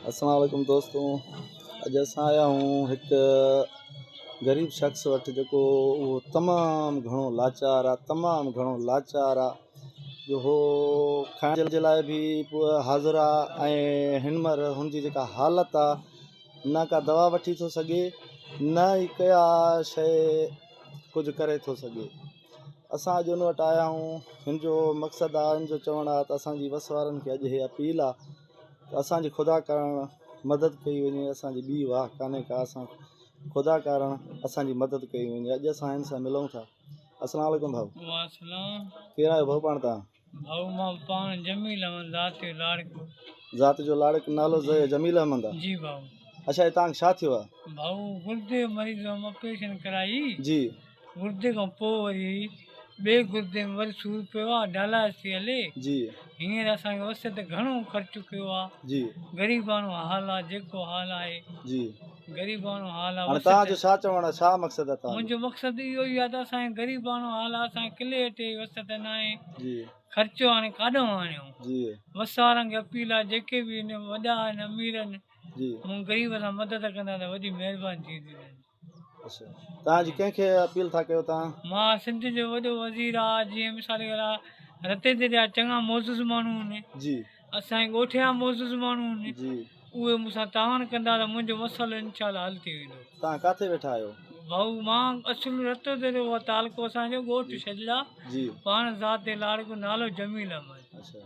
السلام عليڪم دوستو اڄ اسان آيا آهيون هڪ غريب شخص وٽ جيڪو اهو تمام گهڻو لاچار آهي تمام گهڻو لاچار آهي جو هو کائڻ جي لاء به حاضر آهي ۽ هن مهل هن جي جيڪا حالت آهي نه ڪا دوا وٺي ٿو سگهي نه ئي ڪا شيء ڪجهه ڪري ٿو سگهي اسان اڄ هن وٽ آيا آهيون هن جو مقصد آهي هن جو چوڻ آهي ته اسان جي وس وارن کي اڄ هي اپيل آهي ته اسان جي خدا ڪارڻ مدد ڪئي وڃي اسان جي ٻي واهه ڪانهي ڪا اسان خدا ڪارڻ اسان جي مدد ڪئي وڃي اڄ اسان هن سان ملون ٿا السلام عليڪم ڀائو واسلام ڪير آهيو ڀائو پاڻ تان ڀائو مان پاڻ جميل احمد ذات جو لاڙڪو ذات جو لاڙڪ نالو جميل احمد آ جي ڀائو اڇا هي تان کي ڇا ٿيو آ ڀائو گردي مريض هئم آپريشن ڪرائي جي گردي کان پوء وري ٻئي گردي ۾ وري سور پيو آ ڊالائيس ٿي هلي جي هينئر اسان کي وس تي گهڻو خرچ ڪيو آ جي غريباڻو حال آ جيڪو حال آهي جي غريباڻو حال آ هاڻي وس تهان جو تي ڇا چوڻ آ ڇا مقصد آ تهان جو منهنجو مقصد اهو ئي آ ته اسان کي غريباڻو حال آ اسان کي ڪلي اٽي جي وس تي ناهي جي خرچو هاڻي ڪاڏهون آڻيون جي وس وارن کي اپيل آ جيڪي به هن وڏا آهن امير آهن جي مون غريب سان مدد ڪندا ته وڏي مهرباني ٿيندي تنهنجي. توهان اڄ ڪنهن کي اپيل ٿا ڪيو ته. مان سنڌ جو وڏو وزير آ جيئن مثال کي لا رتي تي جا چڱا معزز ماڻهو هن جي اسان جي ڳوٺ جا معزز ماڻهو هن جي اهي مون سان تعاون ڪندا ته منهنجو مسئلو انشاء الله حل ٿي ويندو توهان ڪاٿي ويٺا آهيو ڀائو مان اصل رتو تي جو تعلقو اسان جو ڳوٺ شجڙا جي پاڻ ذات لاڙڪو نالو جميل احمد اڇا.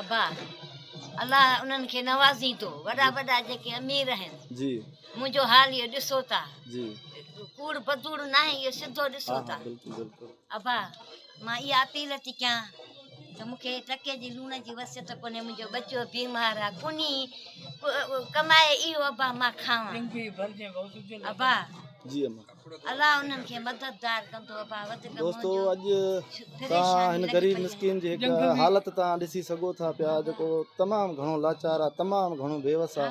ابا الله انهن کي نوازيندو وڏا وڏا جيڪي امير آهن منهنجو حال اهو ڏسو ٿا ڪوڙ بدوڙ ناهي اهو سڌو ڏسو ٿا ابا مان اها اپيل ٿي ڪيان ته مون کي ٽڪي جي لوڻ جي وصيت ڪونهي منهنجو ٻچو بيمار آ ڪونهي ڪمائي اهو ابا مان کاوان ابا جي اما الله انهن کي مددگار ڪندو ابا وڌ دوستو اڄ تان هن غريب مسڪين جي هڪ حالت تان ڏسي سگو ٿا پيا جيڪو تمام گهڻو لاچار آ تمام گهڻو بيوس آ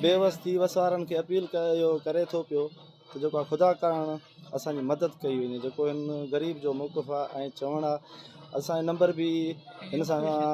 بيوس ٿي وسارن کي اپيل ڪيو ڪري ٿو پيو ته جيڪو آ خدا ڪرڻ اسان جي مدد ڪئي وڃي جيڪو هن غريب جو موقف آ ۽ چوڻ آ اسان جو نمبر به هن سان